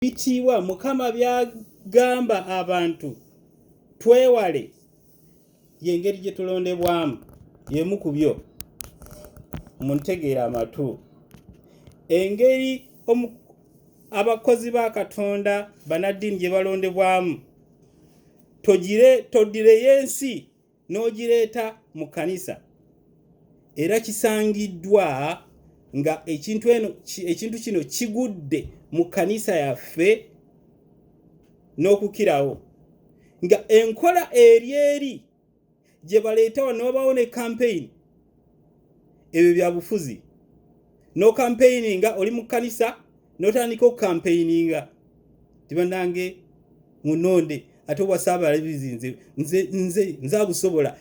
Ebitiibwa Mukama by'agamba abantu twewale y'engeri gye tulondebwamu y'emu ku byo mu ntegeera amatu engeri abakozi ba Katonda banaddiini gye balondebwamu todireyo ensi n'ogireeta mu kkanisa era kisangiddwa nga ekintu eno ekintu kino kigudde mu kkanisa yaffe n'okukirawo nga enkola eri eri gye baleeta wano babawo ne kampeyini ebyo byabufuzi nokampeininga oli mu kkanisa notandika okukampeininga tibanange munonde ate obwasaabalabizi nze nze nze nze abusobola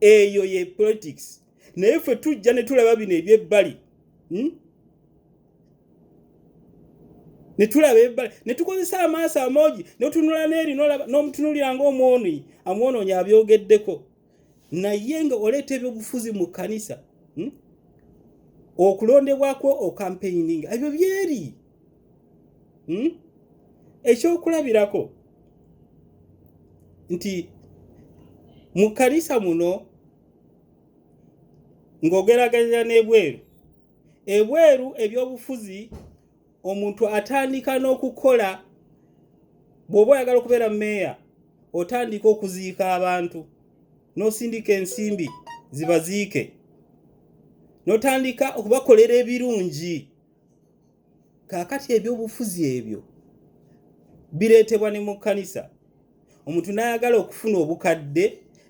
eyo ye politics naye ffe tujja ne tulaba bino ebyebbali hmm? ne tulaba ebbali ne tukozesa amaaso amoogi notunula neeri n'omutunulira ngaomwonyi amwonoonyi abyogeddeko naye nga oleeta ebyobufuzi mu kkanisa hmm? okulondebwako okampeininga ebyo byeri hmm? ekyokulabirako nti mu kkanisa muno ng'ogeragerera n'ebweru ebweru ebyobufuzi omuntu atandika n'okukola bw'oba oyagala okubeera meeya otandika okuziika abantu n'osindika ensimbi zibaziike n'otandika okubakolera ebirungi kaakati ebyobufuzi ebyo bireetebwa ne mu kkanisa omuntu n'ayagala okufuna obukadde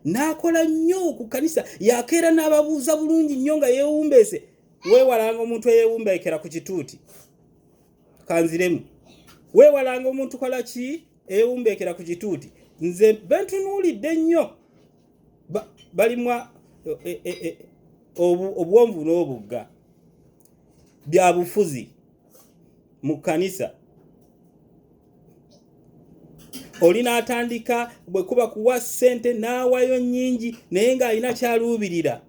n'akola nnyo ku kkanisa yakeera n'ababuuza bulungi nnyo nga yeewumbeese weewalanga omuntu eyewumbeekera ku kituuti kanziremu weewalanga omuntu kola ki eyewumbeekera ku kituuti nze bentunuulidde nnyo balimwa e, e, e, obuwonvu n'obugga bya bufuzi mu kkanisa oli n'atandika bwe kuba kuwa ssente n'awayo nnyingi naye ng'alina kyaluubirira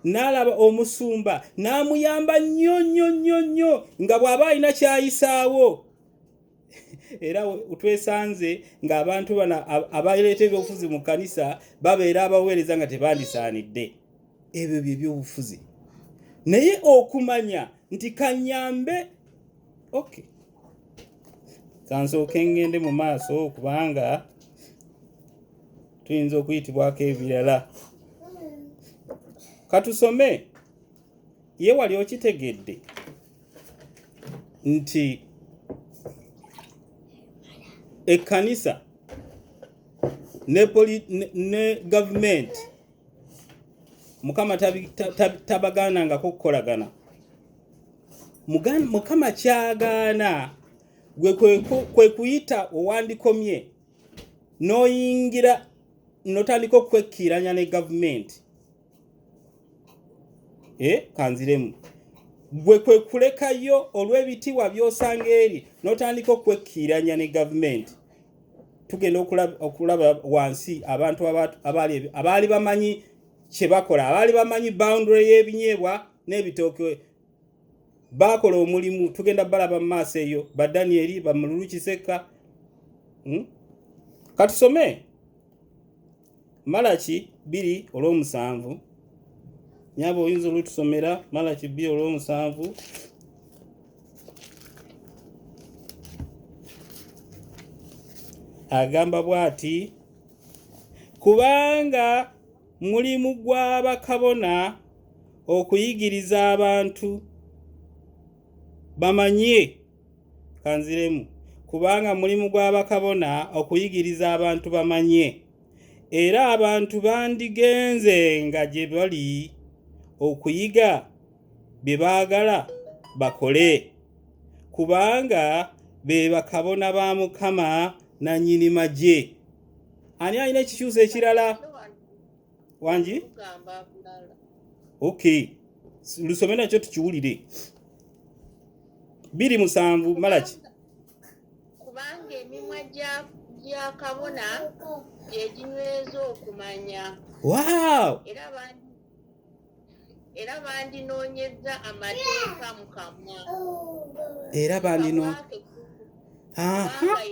n'alaba omusumba n'amuyamba nnyo nnyo nnyo nnyo nga bw'aba alina kyayisaawo era twesanze ng'abantu bano abaleeta ebyobufuzi mu kkanisa babeera abaweereza nga tebandisaanidde ebyo bye byobufuzi naye okumanya nti kanyambe okay kansooke ngende mu maaso kubanga tuyinza okuyitibwako ebirala katusome ye wali okitegedde nti ekkanisa ne, ne, ne gavumenti mukama tabagaanangako okukolagana mukama kyagaana gwe kwe kuyita owandikomye n'oyingira notandika okwekkiiranya ne gavumenti e eh, kanziremu gwe kwe kulekayo olw'ebitiibwa by'osanga eri n'otandika okwekkiiranya ne gavumenti tugenda okulaba wansi abantu abaali bamanyi kye bakola abaali bamanyi boundary y'ebinyeebwa n'ebitooke baakola omulimu tugenda balaba mu maaso eyo ba danieli ba mululu kisekka hmm? katusome malaki bbiri olw'omusanvu nyaba oyinza olutusomera malaki bbiri olw'omusanvu agamba bw'ati kubanga Mulimu gwa bakabona okuyigiriza abantu bamanye kanziremu kubanga mulimu gwa bakabona okuyigiriza abantu bamanye era abantu bandigenze nga gye bali okuyiga bye baagala bakole kubanga be bakabona ba mukama nannyini magye ani alina ekikyusa ekirala wangi ok lusome nakyo tukiwulire biri musanvu malaki kubanga emimwa gya kabona gyeginyweza okumanya wow. era era bandinoonyezza amateeka mu kamwa era bandino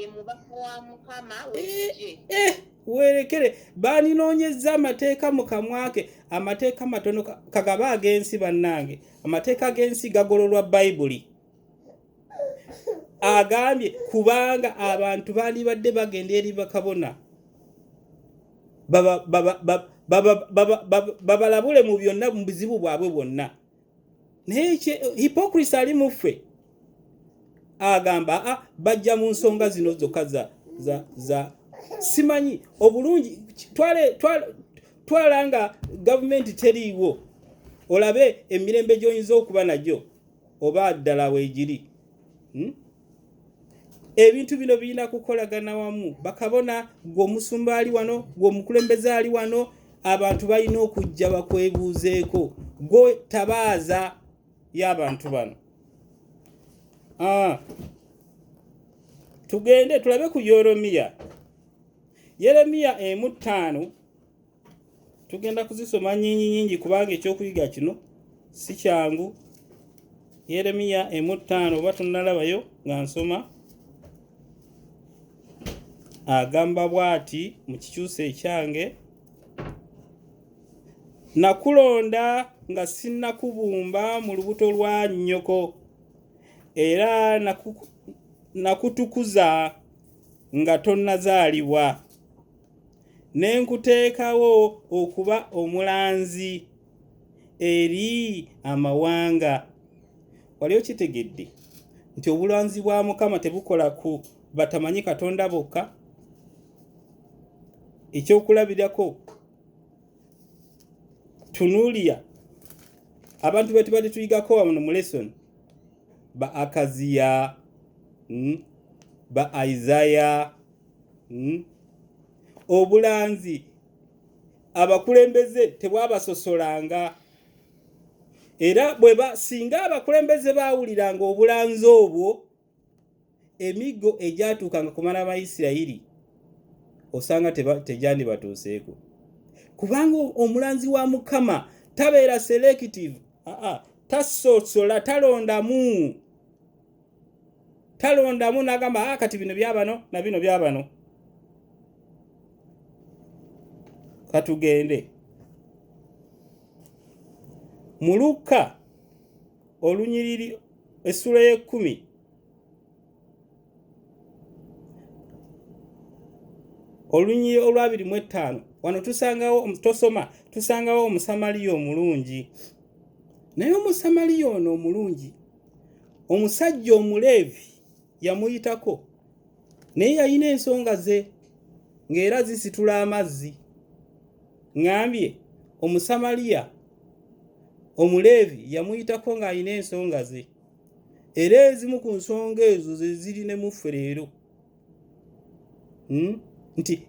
ye mubaka wa mukama w'eggye eh, eh, weerekere bandinoonyezza amateeka mu kamwa ke amateeka matono kagaba ag'ensi bannange amateeka g'ensi gagololwa bayibuli agambye kubanga abantu bandibadde bagenda eri bakabona babalabule mu byonna mu buzibu bwabwe bwonna naye hipokrisi ali mu ffe agamba a ah, bajja mu nsonga zino zokka za za za simanyi obulungi twala nga gavumenti teriiwo olabe emirembe gy'oyinza okuba nagyo oba ddala weegiri hmm? ebintu bino birina kukolagana wamu bakabona gwe omusumba ali wano gwe omukulembeze ali wano abantu balina okujja bakwebuuzeeko gwe tabaaza y'abantu bano ah. tugende tulabe ku yeremiya yeremiya emu ttaano tugenda kuzisoma nyingi nyingi kubanga ekyokuyiga kino si kyangu yeremiya emu ttaano oba tunalabayo nga nsoma agamba bwati mu kikyusa ekyange nakulonda nga sinnakubumba mu lubuto lwa nnyoko era nakutukuza nga tonnazaalibwa ne nkuteekawo okuba omulanzi eri amawanga wali okitegedde nti obulanzi bwa mukama tebukola ku batamanyi katonda bokka ekyokulabirako tunulia abantu betubadde tuyigako wano mu lesson ba akaziya hmm? ba isaya hmm? obulanzi abakulembeze tebwabasosolanga era bweba singa abakulembeze baawuliranga obulanzi obwo emiggo egyatuukanga ku baana ba isirayiri osanga tegyandibatuuseeko kubanga omulanzi wa mukama tabeera selective aa tasosola talondamu talondamu nagamba ah, kati bino byabano na bino byabano katugende mu lukka olunyiriri essula y'ekkumi olunyiriri olwabiri mu ettaano wano tusangawo tosoma tusangawo omusamaliya omulungi naye omusamaliya ono omulungi omusajja omuleevi yamuyitako naye yalina ensonga ze ng'era zisitula amazzi ŋambye omusamaliya omuleevi yamuyitako ng'alina ensonga ze era ezimu ku nsonga ezo ze ziri ne muffe leero hmm? nti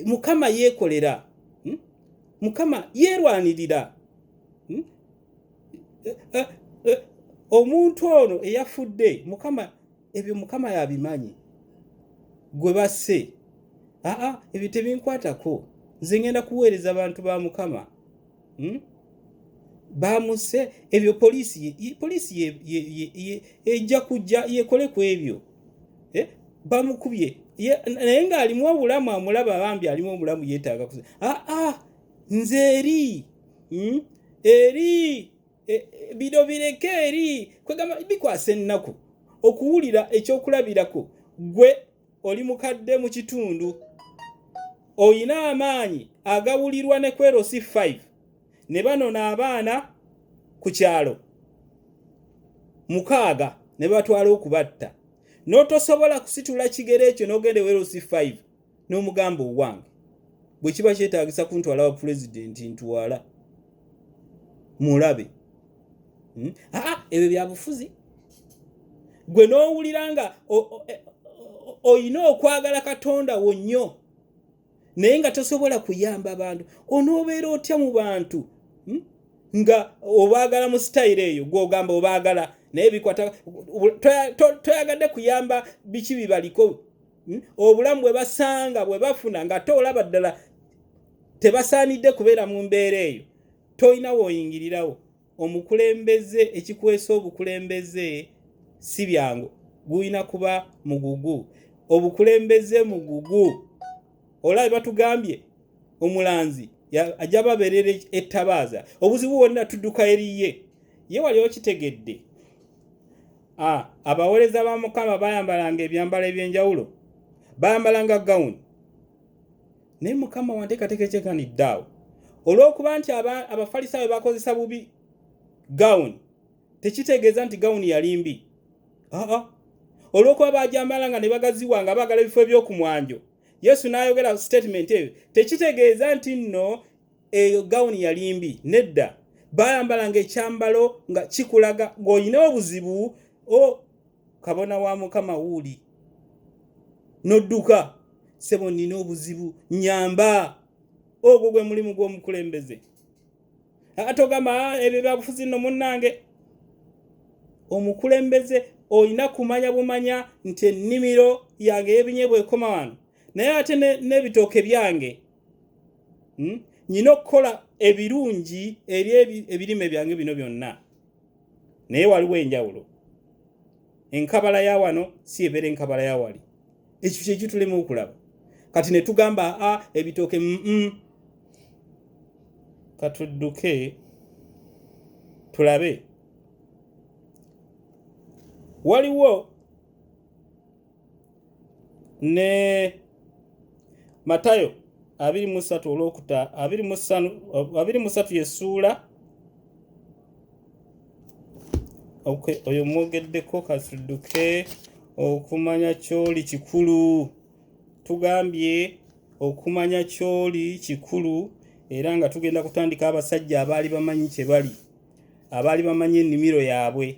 mukama yeekolera hmm? mukama yeerwanirira hmm? omuntu ono eyafudde mukama ebyo mukama yabimanyi gwe basse aa ebyo tebinkwatako nze ngenda kuweereza abantu ba mukama hmm? bamuse ebyo poliisi poliisi ejja kujja yekole ku ebyo eh? bamukubye naye ng'alimu obulamu amulaba bambi alimu obulamu yeetaaga aa nze eri hmm? eri e, bino bireke eri kwegamba bikwasa ennaku okuwulira ekyokulabirako gwe oli mukadde mu kitundu olina amaanyi agawulirwa ne kwerosi 5 ne banona abaana ku kyalo mukaaga ne batwala okubatta n'otosobola kusitula kigero ekyo n'ogenda ewerosi 5 n'omugamba owange bwe kiba kyetaagisa kuntwala wa pulezidenti ntwala mulabe hmm? aa ebyo byabufuzi gwe n'owulira nga e, olina okwagala katonda wo nnyo naye nga tosobola kuyamba bantu onoobeera otya mu bantu hmm? nga obaagala mu sitayiro eyo gwogamba obaagala naye bikwata toyagadde kuyamba biki bibaliko hmm? obulamu bwe basanga bwe bafuna ng'ate olaba ddala tebasaanidde kubeera mu mbeera eyo tolina woyingirirawo omukulembeze ekikwesa obukulembeze si byangu gulina kuba mugugu obukulembeze mugugu olaba batugambye omulanzi ajja babeerera ettabaaza obuzibu bwonna tudduka eriye ye wali okitegedde A, abaweereza ba mukama bayambalanga ebyambalo eby'enjawulo bayambalanga gawuni naye mukama wanteekateeka ekyekanidde awo olw'okuba nti abafalisaayo bakozesa bubi gawuni tekitegeeza nti gawuni yali mbi aa olw'okuba bajambala nga ne bagaziwa nga baagala ebifo eby'oku mwanjo yesu n'ayogera sitatimenti eyo tekitegeeza nti nno eyo gawuni yali mbi nedda bayambalanga ekyambalo nga kikulaga ng'olina obuzibu o kabona wa mukama wuuli n'odduka sebo nnina obuzibu nyamba ogwo gwe mulimu gw'omukulembeze ate ogamba ah, ebyo byabufuzi nno munnange omukulembeze olina kumanya bumanya nti ennimiro yange yebinye bwekoma wano naye ate n'ebitooke byange hmm? nyina okukola ebirungi eri ebirime byange bino byonna naye waliwo enjawulo enkabala ya wano si ebeera enkabala ya wali ekyo kyekitulema okulaba kati ne tugamba a ebitooke mm katudduke tulabe waliwo ne matayo abiri mu ssatu olwokuta abiri mu ssanu abiri mu ssatu yesuula okay oyo mwogeddeko katuduke okumanya kyoli kikulu tugambye okumanya kyoli kikulu era nga tugenda kutandika abasajja abaali bamanyi kye bali abaali bamanyi ennimiro yaabwe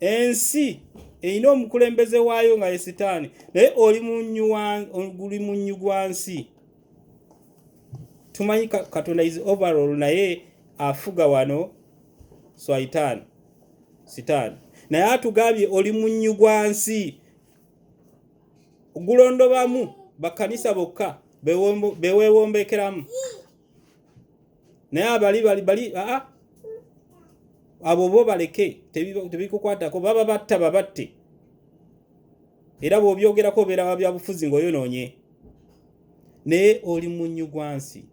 ensi erina omukulembeze waayo nga ye sitaani naye oli munnyu gwa nsi tumanyi katonda is overall naye afuga wano swaitaani sitaani naye atugambye oli munnyu gwa nsi gulondobamu bakkanisa bokka bewewombekeramu naye abali bali bali aa abo bo baleke tebikukwatako baba batta babatte era bw'obyogerako obeera wa byabufuzi ng'oyonoonye naye oli munnyugwansi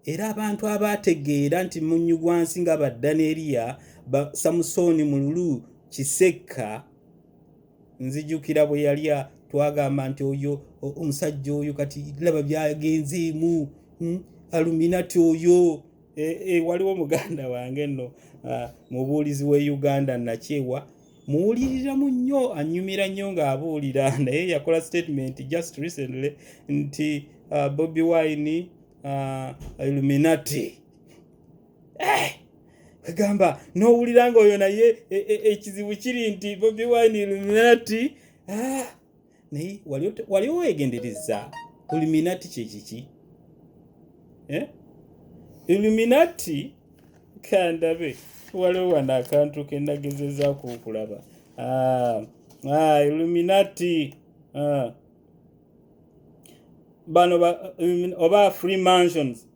era abantu abaategeera nti munnyugwansi nga baddaneeriya samusooni mululu kisekka nzijukira bwe yali twagamba nti oyo omusajja oyo kati laba byagenzeemu hmm, aluminati oyo e, e, waliwo muganda wange nno mubuulizi w'e uganda nakyewa muwuliriramu nnyo anyumira nnyo ng'abuulira naye yakola statement just recently nti bobi wine illuminati eh! kwegamba n'owulira nga oyo naye e, e, ekizibu e, kiri nti bobi wine illuminati ah! naye wali owegendereza illuminati kyekiki eh? illuminati kandabe waliwo wano akantu kenagezezaku okulaba ah, ah, illuminati bano oba free mansions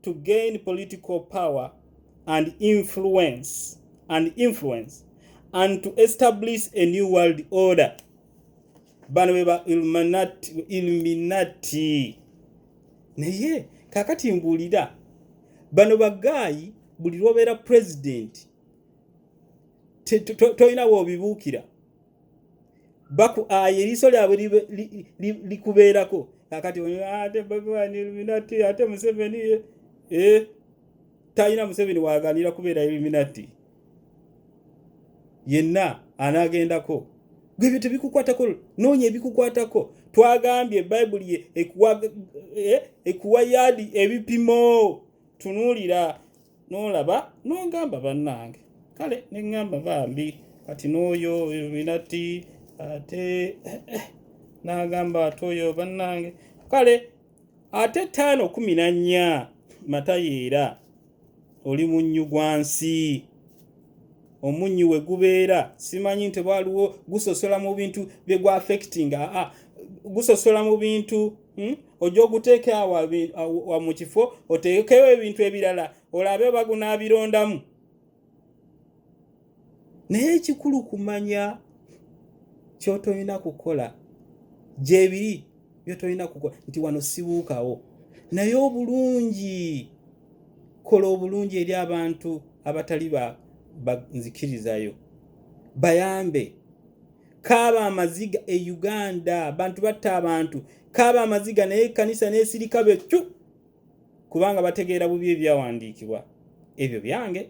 to gain political power and influence and influence and to establish a new world order bano beba illuminati naye kakati mbuulira bano bagaayi buli lwobeera president tolina wobibuukira bakuaye eriiso lyabwe likubeerako kakati ah, ate babiwani illuminati ate museveni e eh, talina museveni waganira kubeera illuminati yenna anagendako gwe ebyo tebikukwatako noonya ebikukwatako twagambye bayibuli ekuwa eh, yaadi ebipimo tunuulira n'olaba n'ogamba bannange kale ne ŋŋamba bambi kati n'oyo oyo binati ate n'agamba ate oyo bannange kale ate ttaano kumi na nnya matayeera oli munnyu gwa nsi omunnyu we gubeera simanyi nti waliwo gusosola mu bintu bye gwa affectinga aa gusosola mu bintu hmm? ojja oguteeka awa mu kifo oteekewo ebintu ebirala olabe oba gunaabirondamu naye ekikulu kumanya kyotolina kukola gyebiri byotolina kukola nti wano sibuukawo naye obulungi kola obulungi eri abantu abatali banzikirizayo bayambe kaaba amaziga e uganda abantu batta abantu kaaba amaziga naye ekkanisa n'esirika be cu kubanga bategeera bubi ebyawandiikibwa ebyo byange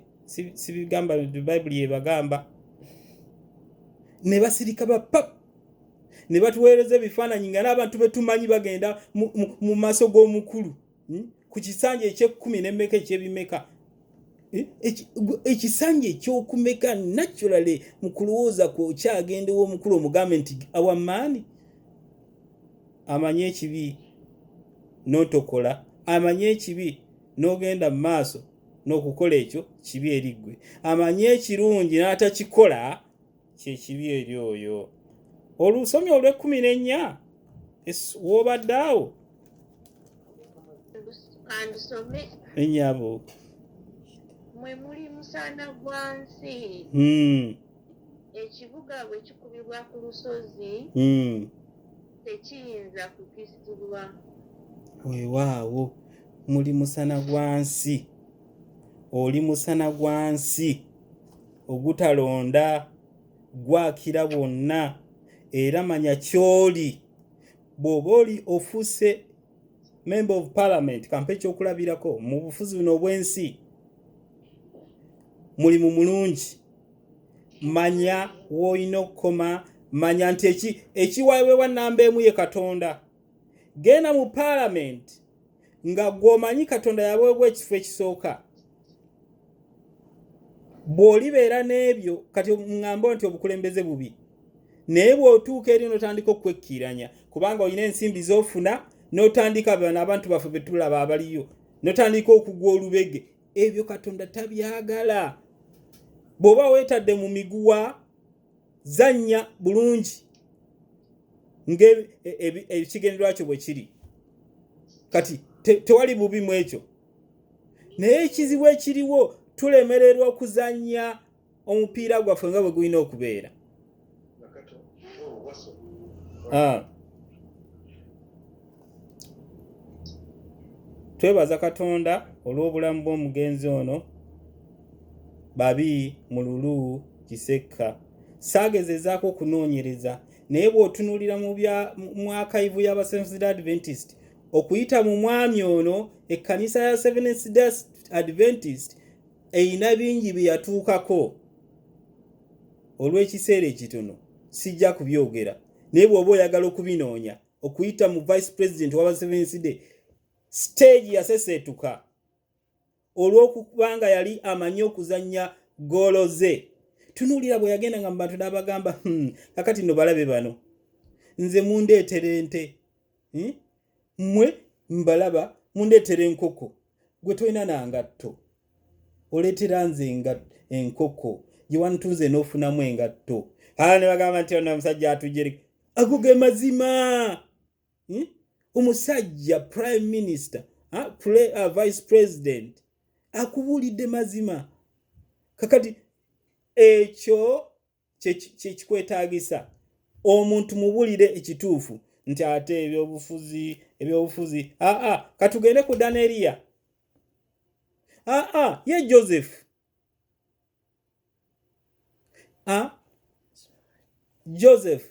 sibigamba bayibuli yebagamba ne basirika ba pap ne batuweereza ebifaananyi nga n'abantu betumanyi bagenda mu maaso g'omukulu hmm? ku kisanja ekyekkumi nemmeka ekyebimeka eh? ekisanja ekyokumeka naturally mu kulowooza kwe okyagendewo omukulu omugambe nti awamaani amanye ekibi notokola amanye ekibi nogenda mu maaso nokukola ekyo kibi eriggwe amanye ekirungi n'atakikola kyekibi eri oyo olusomye olw'ekkumi n'ennya w'obadde awo enyabo mwe muli musana gwa nsi hmm. ekibuga bwe kikubibwa ku lusozi hmm. tekiyinza kukisibwa weewaawo muli musana gwa nsi oli musana gwa nsi ogutalonda gwakira bwonna era manya kyoli bw'oba oli ofuuse member of parliament kampa ekyokulabirako mu bufuzi buno obw'ensi mulimu mulungi manya woolina okukoma manya nti ekiwawewa namba emu ye katonda genda mu parliament nga gwomanyi katonda yaweebwa ekifo ekisooka bw'olibeera n'ebyo kati ŋŋamba nti obukulembeze bubi naye bw'otuuka eri n'otandika okwekkiiranya kubanga olina ensimbi z'ofuna n'otandika bano abantu baffe be tulaba abaliyo n'otandika okugwa olubege ebyo katonda tabyagala bw'oba weetadde mu miguwa zannya bulungi ng'ekigendererwa e, e, kyo bwe kiri kati tewali bubi mu ekyo naye ekizibu ekiriwo tulemererwa okuzannya omupiira gwaffe nga bwe gulina okubeera ah. twebaza katonda olw'obulamu bw'omugenzi ono babi mu lulu kisekka saagezezaako okunoonyereza naye bw'otunuulira mu bya mwakayivu y'abasenfusida adventist okuyita mu mwami ono ekkanisa ya seventhda adventist erina bingi bye yatuukako olw'ekiseera ekitono sijja kubyogera naye bw'oba oyagala okubinoonya okuyita mu vice president waba sevenside stage yaseseetuka olw'okubanga yali amanyi okuzannya goolo ze tunuulira bwe yagenda nga mu bantu n'abagamba hmm, kakati no balabe bano nze mundeetera ente hmm? mmwe mbalaba mundeetera enkoko gwe tolina na ngatto oleetera nze enkoko gye wantunze n'ofunamu engatto aa ne bagamba nti ono omusajja atujere ago ge mazima hmm? omusajja prime minister ha? Pre, uh, vice president akubuulidde mazima kakati ekyo kyekikwetaagisa omuntu mubulire ekituufu nti ate ebyobufuzi ebyobufuzi aa katugende ku daneriya aa ye joseph a joseph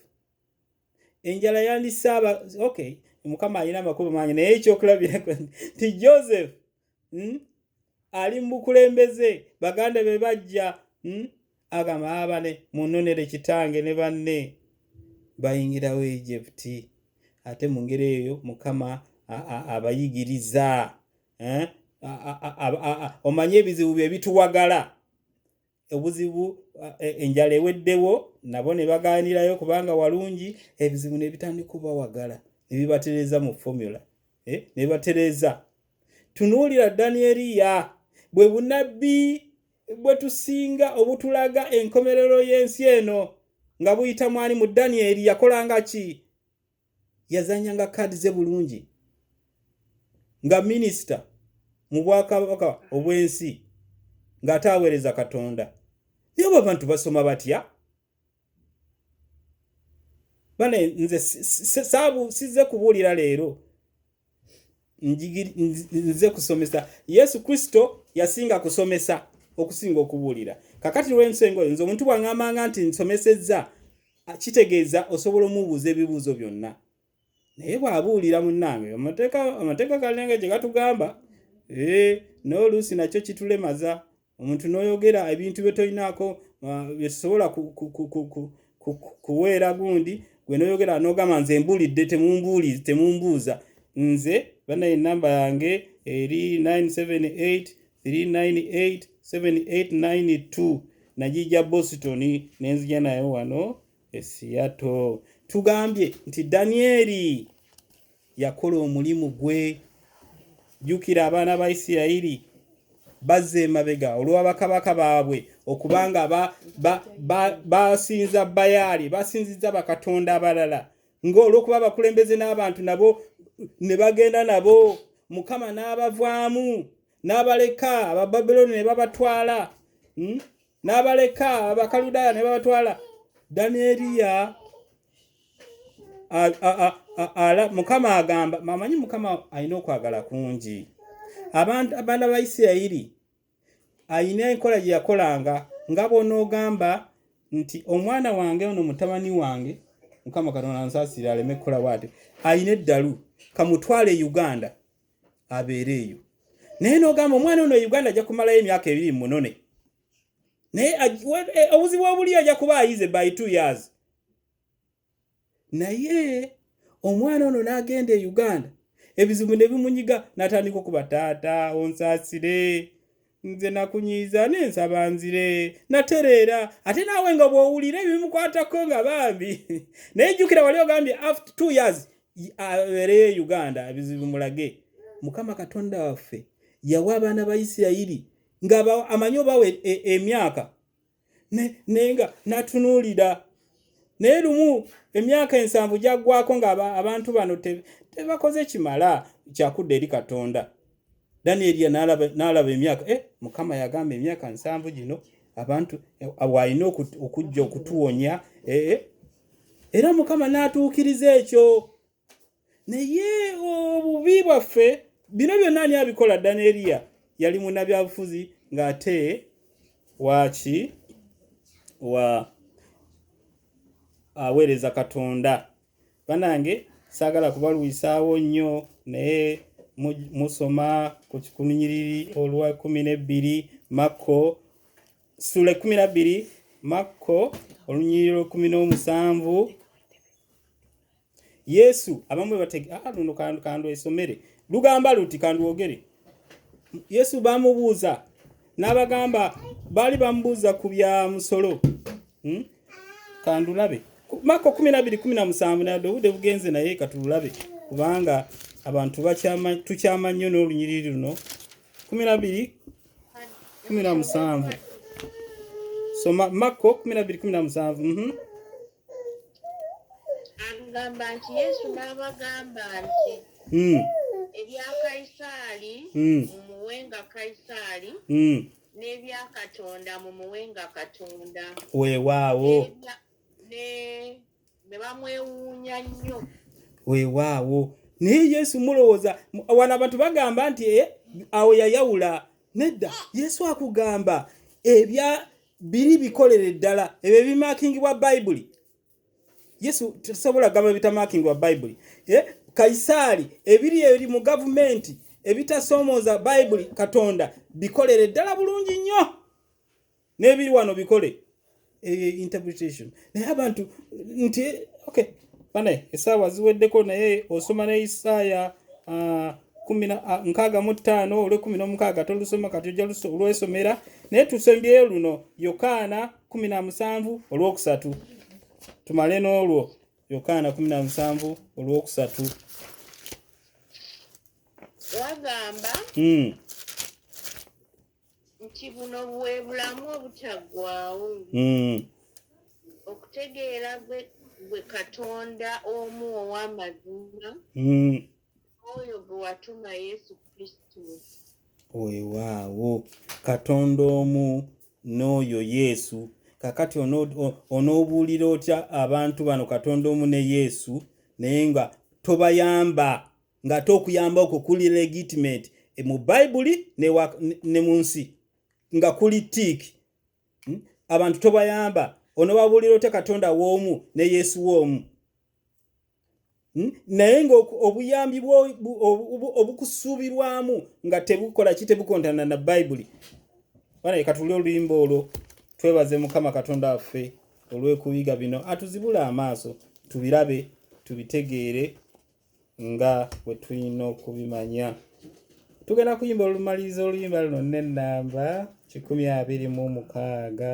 enjala yandisaaba okay mukama alina amakulu mangi naye ekyokulabirako nti joseph hmm, ali mu bukulembeze baganda be bajja hmm, agamba abane ah, munonere kitange ne banne bayingirawo egypti ate mu ngeri eyo mukama abayigiriza eh? omanyi ebizibu bye bituwagala obuzibu e, enjala eweddewo nabo ne bagaanirayo kubanga walungi ebizibu ne bitandika obawagala ne bibatereeza mu fomula eh? ne bibatereeza tunuulira danieriya bwe bunabbi bwe tusinga obutulaga enkomerero y'ensi eno nga buyita mwani mu danieri yakolanga ki yazanyanga kaadi ze bulungi nga minisita mu bwakabaka obw'ensi ng'ate aweereza katonda naye obo abantu basoma batya bane nze saabu sizze kubuulira leero nze kusomesa yesu kristo yasinga kusomesa okusinga okubuulira kakati lwensenga oyo nze omuntu bwaŋamanga nti nsomesezza kitegeeza osobola omubuuza ebibuuzo byonna naye bwabuulira munnange amateeka galinga gye gatugamba ee n'oluusi nakyo kitulemaza omuntu n'oyogera ebintu bye tolinaako uh, bye tusobola kuweera gundi gwe n'oyogera n'ogamba nze mbuulidde temumbuli temumbuuza nze banaye enamba yange eri 978 nagiija boston nenzija nayo wano Esiyato. Tugambye nti Danyeri yakola omulimu gwe. Jjukira abaana ba Isirayiri bazza emabega olwa bakabaka baabwe okubanga basinza bayaali basinziza bakatonda abalala ng'olwokuba abakulembeze n'abantu nabo ne bagenda nabo mukama n'abavaamu n'abaleka abababilooni ne babatwala hmm? n'abaleka abakaludaaya ne babatwala danieriya mukama agamba mamanyi mukama alina okwagala kungi abantu abaana ba isirayiri alina enkola gye yakolanga nga bwonaogamba nti omwana wange ono mutabani wange mukama katonda nsasire aleme kukola bwati alina eddalu kamutwale e uganda abeere eyo naye nogamba omwana ono e uganda ajja kumalayo emyaka ebiri munone naye e, obuzibu obuli ajja kuba ayize by two years naye omwana ono n'agenda e uganda ebizibu ne bimunyiga n'atandika okuba taata onsasire nze nakunyiiza ne nsaba nzire natereera ate naawe nga bw'owulira ebimukwatako nga bambi naye jjukira wali ogambye after two years abeereyo e uganda ebizibu mulage mukama katonda waffe yawa abaana ba isirayiri nga amanyi obawa e, e, emyaka naye nga natunuulira naye lumu emyaka ensanvu gyaggwako nga abantu bano tebakoze kimala kyakudda eri katonda danieri n'alaba emyaka eh, mukama yagamba emyaka nsanvu gino abantu eh, walina okujja okutuwonya eh, era mukama n'atuukiriza ekyo naye obubi bwaffe bino byonna ani abikola daneriya yali munabyabufuzi ng'ate waaki wa aweereza katonda banange saagala kubalwisaawo nnyo naye musoma ku kikunyiriri olwa kumi n'ebbiri makko sula ekumi nabbiri makko olunyiriri lwekumi n'omusanvu yesu abamu bebatege ah, luno kandu kandu esomere lugamba luti kanduwogere yesu bamubuuza n'abagamba baali bamubuuza ku bya musolo hmm? kandulabe mako kumi nabiri kumi na musanvu naye obude bugenze naye katulabe kubanga abantu tukyama nnyo n'olunyiriri luno kumi nabiri kumi na musanvu soma mako kumi nabiri kumi na musanvu mm -hmm. agamba nti yesu n'abagamba nti hmm. ebya kayisaali hmm. mumuwenga kayisaali hmm. n'ebya katonda mumuwenga katonda weewaawo ne bamwewuunya nnyo weewaawo naye yesu mulowooza wano abantu bagamba nti eh, awo yayawula nedda yesu akugamba ebya biri bikolere ddala ebyo ebimakingibwa bayibuli yesu tusobola gamba ebitamakingibwa bayibuli eh, kaisaali ebiri eri mu gavumenti ebitasoomooza bayibuli katonda bikolere ddala bulungi nnyo nebiri wano bikole eyo eh, interpretation naye abantu nti okay bana esaawa ziweddeko naye osoma ne isaaya ah, ah, nkaaga mu ttaano olwekumi n'omukaaga tolusoma kati ojja olwesomera naye tusembyeyo luno yokaana kumi na musanvu olwokusatu tumale n'olwo yokaana kumi na musanvu olwokusatu wagamba hmm. nti buno bwe bulamu obutaggwaawo hmm. okutegeera gwe katonda omu ow'amazima hmm. oyo gwe watuma yesu kristo wewaawo katonda omu n'oyo yesu kakati onoobuulira otya abantu bano katonda omu ne yesu naye nga tobayamba ng'ate okuyamba okwo kuli legitimate e mu bayibuli ne mu nsi nga kuli tiiki hmm? abantu tobayamba onobabuulira otya katonda w'omu ne yesu w'omu hmm? naye ngaobuyambi obukusuubirwamu nga tebukola ki tebukontana na bayibuli banaye katuli oluyimba olwo twebaze mukama katonda waffe olw'okuyiga bino atuzibule amaaso tubirabe tubitegeere nga bwe tulina okubimanya tugenda kuyimba olumaliriza oluyimba luno n'ennamba kikumi abiri mu mukaaga